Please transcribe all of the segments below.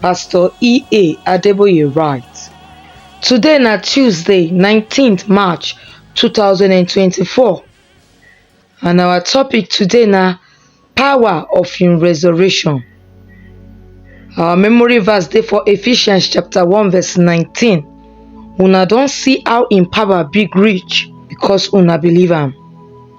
pastor ea adeboye write today na tuesday nineteen march two thousand and twenty four and our topic today na power of him resurrection our memory verse dey for ephesians chapter one verse nineteen una don see how him power big reach because una believe am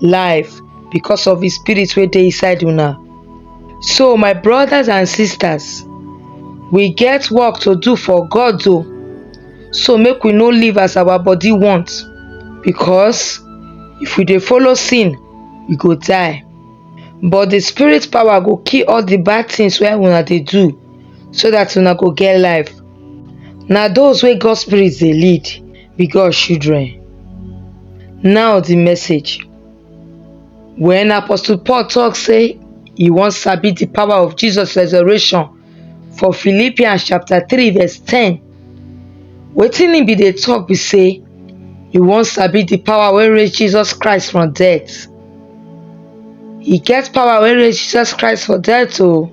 life because of the spirit wey dey inside una. So my brothers and sisters, we get work to do for God o. So make we no live as our body want because if we dey follow sin, we go die. But the spirit power go kill all the bad things wey una dey do so that una go get life. Na those wey God spirit dey lead. be God children. Now the message. When Apostle Paul talk say he wan sabi the power of Jesus resurrection for Philippians chapter 3 verse 10, wetin he be dey talk be say he wan sabi the power wey raise Jesus Christ from death. He get power wey raise Jesus Christ for death o. Oh.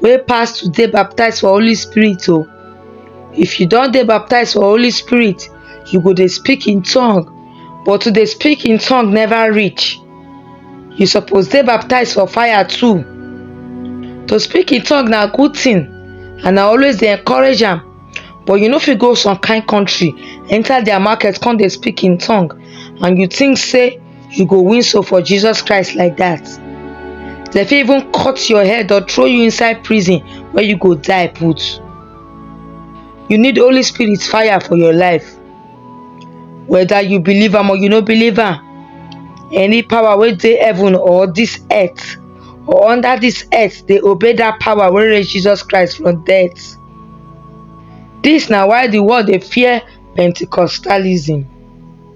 wey pass to dey baptized for holy spirit o if you don dey baptized for holy spirit you go dey speak in tongue but to dey speak in tongue never reach you suppose dey baptized for fire too to speak in tongue na good thing and i always dey encourage am but you no fit go some kind country enter their market come dey speak in tongue and you think say you go win so for jesus christ like that dem fit even cut your head or throw you inside prison where you go die put you need holy spirit fire for your life whether you believe am or you no believe am any power wey dey heaven or this earth or under this earth dey obey that power wey raise jesus christ from death This na why the world dey fear pentecostalism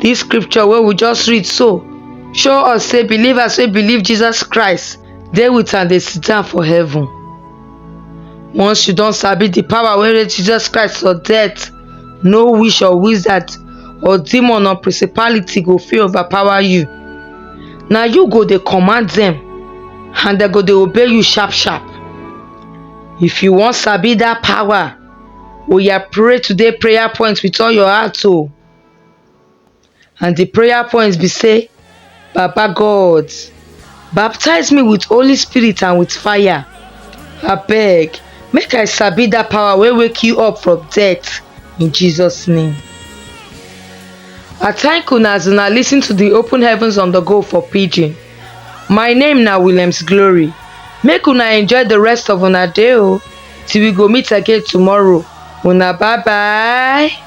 Dis scripture wey we just read so show us say believers wey believe Jesus Christ dey with am dey sit down for heaven. Once you don sabi the power wey raise Jesus Christ for death, no witch or wizard or demon or principality go fit overpower you. Na you go dey command dem and dem go dey obey you sharp sharp. If you wan sabi that power, oya pray today prayer point with all your heart o. And the prayer points be say, Papa God, baptize me with Holy Spirit and with fire. I beg, make I sabi that power will wake you up from death in Jesus' name. I thank una as una listen to the open heavens on the go for pidgin. My name now Williams Glory. Make una enjoy the rest of una day o oh, till we go meet again tomorrow. Una bye bye.